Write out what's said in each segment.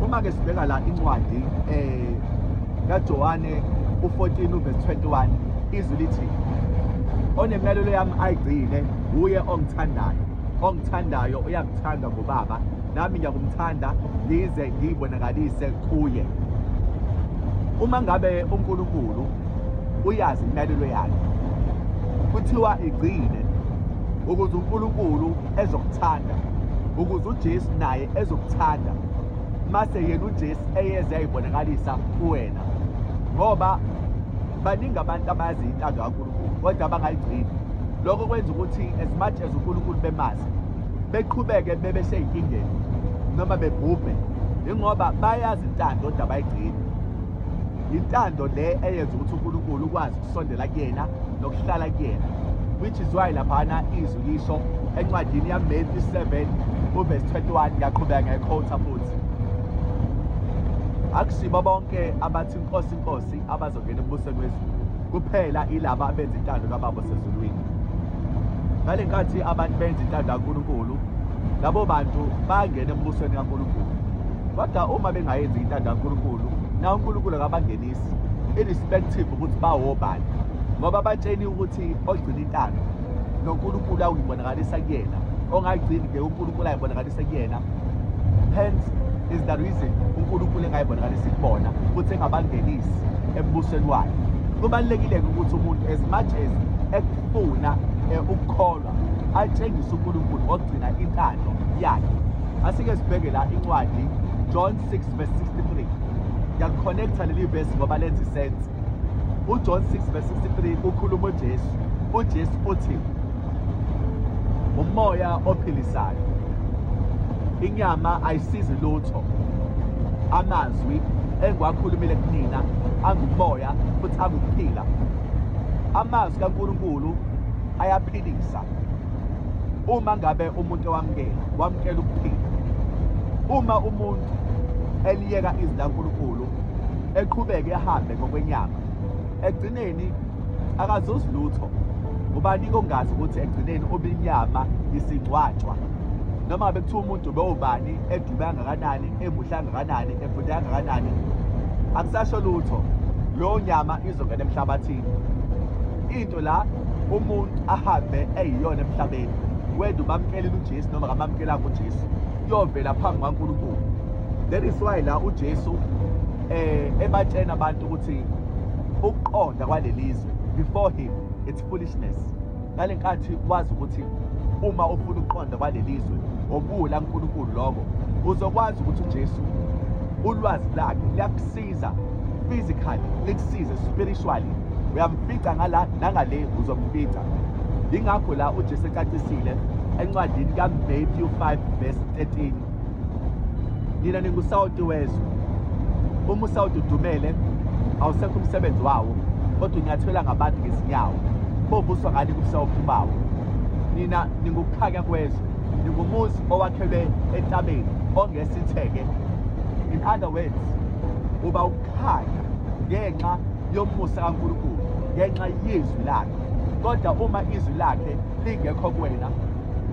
Uma ke sibheka la incwadi eh kaJohane u-14 uverse 21 izwi lithi onemlalelo yami ayigcine wuye ongithandayo ongithandayo uyakuthanda ngobaba nami ngiyakumthanda ngize ngiyibonakalise kuye uma ngabe uNkulunkulu uyazi imlalelo yakhe kuthiwa igcine ukuze uNkulunkulu ezokuthanda ukuze uJesu naye ezokuthanda mase yena uJesu eyeze ayibonakalisa kuwena ngoba baningi abantu abazi intando kaNkulunkulu kodwa abangayigcini lokho kwenza ukuthi as much as uNkulunkulu bemazi beqhubeke bebe seyinkingeni noma bebhubhe ingoba bayazi intando kodwa bayigcini yintando le eyenza ukuthi uNkulunkulu ukwazi ukusondela kuyena nokuhlala kuyena which is why laphana izwi lisho encwadini yaMatthew 7 uverse 21 ngiyaqhubeka ngekhotha futhi akusibo bonke abathi inkosi inkosi abazongena embusweni wezulu kuphela ilaba abenza intando kababa osezulwini ngale nkathi abantu benza intando kaNkulunkulu labo bantu bangena embusweni kaNkulunkulu kodwa uma bengayenzi intando kaNkulunkulu na uNkulunkulu akabangenisi irrespective ukuthi bawobani ngoba batsheni ukuthi ogcina intando noNkulunkulu awuyibonakalisa kuyena ongagcini ke uNkulunkulu ayibonakalisa kuyena hence is the reason uNkulunkulu engayibonakalisa kubona futhi engabangenisi embusweni wakhe kubalulekile ukuthi umuntu as much as ekufuna eh, ukukholwa atshengise uNkulunkulu ngokugcina intando yakhe asike sibheke la incwadi John 6 verse 63 ngiyakukhonektha leli verse ngoba lenza isense uJohn 6 verse 63 ukhuluma uJesu uJesu uthi umoya ophilisayo inyama ayisizi lutho amazwi engiwakhulumile kunina angumoya futhi angukuphila amazwi kaNkulunkulu ayaphilisa uma ngabe umuntu ewamukela wamukela ukuphila uma umuntu eliyeka izwi laNkulunkulu eqhubeke ahambe ngokwenyama egcineni akazuzi lutho ubani kongazi ukuthi egcineni ubinyama isigcwatshwa noma bekuthiwa umuntu bewubani edube angakanani emuhle angakanani efunde angakanani akusasho lutho lowo nyama izongena emhlabathini la umuntu ahambe eyiyona emhlabeni whether ubamkelile uJesu noma kamamkelanga uJesu kuyovela phambi kwaNkulunkulu that is why la uJesu eh ebatshena abantu ukuthi ukuqonda kwalelizwe before him it's foolishness ngalenkathi wazi ukuthi uma ufuna ukuqonda kwalelizwe obula uNkulunkulu lokho uzokwazi ukuthi uJesu ulwazi lakhe liyakusiza iza physically likusize spiritually uyamfica ngala nangale uzomfica yingakho la uJesu ecacisile encwadini kaMatthew 5 verse 13 nina ningusawoti wezwe uma usawoti udumele awusekho umsebenzi wawo kodwa unyathela ngabantu ngezinyawo bovuswa ngani kubusawophi bawo nina ningukukhanya kwezwe ningumuzi owakhelwe entabeni ongese sitheke in other words uba ukukhanya ngenxa yomusa kaNkulunkulu ngenxa yezwi lakhe kodwa uma izwi lakhe lingekho kuwena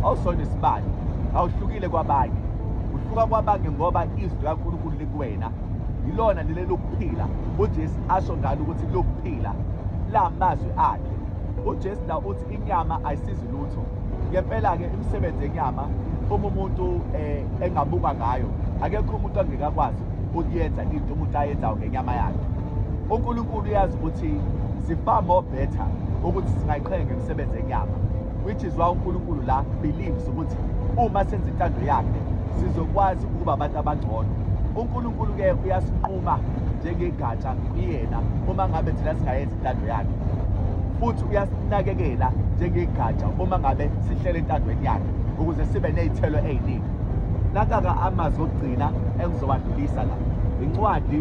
awusona isibani awuhlukile kwabanye uhluka kwabanye ngoba izwi likaNkulunkulu likuwena yilona leli lokuphila uJesu asho ngalo ukuthi lokuphila la mazwi akhe uJesu la uthi inyama ayisizi lutho ngempela-ke imisebenzi yenyama uma umuntu um engabuka ngayo akekho umuntu angekakwazi ukuyenza into umuntu ayenzayo ngenyama yakhe unkulunkulu uyazi ukuthi si-far more better ukuthi singayiqhenya ngemisebenzi yenyama which is why unkulunkulu la believes ukuthi uma senza intando yakhe sizokwazi ukuba abantu abangcono unkulunkulu-ke uyasinquma njengegatsha kuyena uma ngabe thina singayenza intando yakhe futhi uyasinakekela njengegatsha uma ngabe sihlele entandweni yakhe ukuze sibe ney'thelo ey'ningi nakaka amazwi okugcina engizowandlulisa la incwadi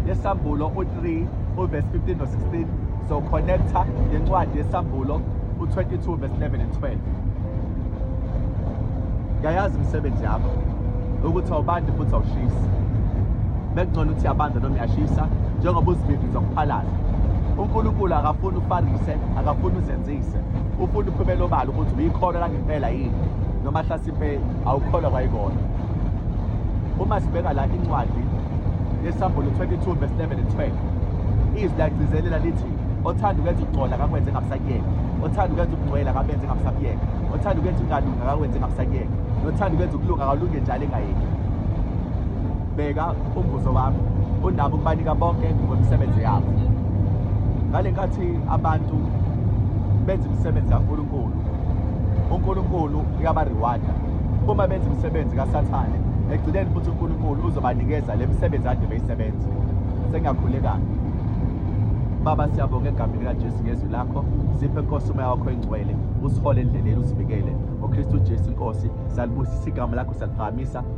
yesambulo u-3 uvesi 15 no-16 so connecta nencwadi yesambulo u-22 vesi 11 and 12 ngiyayazi imisebenzi yakho ukuthi awubandi futhi awushisi bekungcono ukuthi yabanza noma yashisa njengoba uziviviza ukuphalaza unkulunkulu akafuni ufarise akafuni uzenzise ufuna uphumela obala ukuthi uyikholwa langempela yini noma hlasimpe awukholwa kwayikona uma sibheka la incwadi yesambulu 22 verse 11 and 12 izwi lagcizelela lithi othanda ukwenza ukugcola akakwenze ngabusakuyeka othanda ukwenza ukungcwela akabenze ngabusakuyeka othanda ukwenza ukungalunga akakwenze ngabusakuyeka nothanda ukwenza ukulunga akalunge njalo engayeki bheka umbuzo wami unabo ukubanika bonke ngemisebenzi yabo ngale nkathi abantu benza imisebenzi kaNkulunkulu uNkulunkulu uyabariwada uma benza imisebenzi kaSathane ekugcineni futhi uNkulunkulu uzobanikeza le misebenzi ade beyisebenza sengiyakhulekana baba siyabonga egameni likajesu ngezwi lakho siphe nkosi umoya wakho engcwele usihole endleleni usivikele ngokristu jesu inkosi salibusisa igama lakho saliphakamisa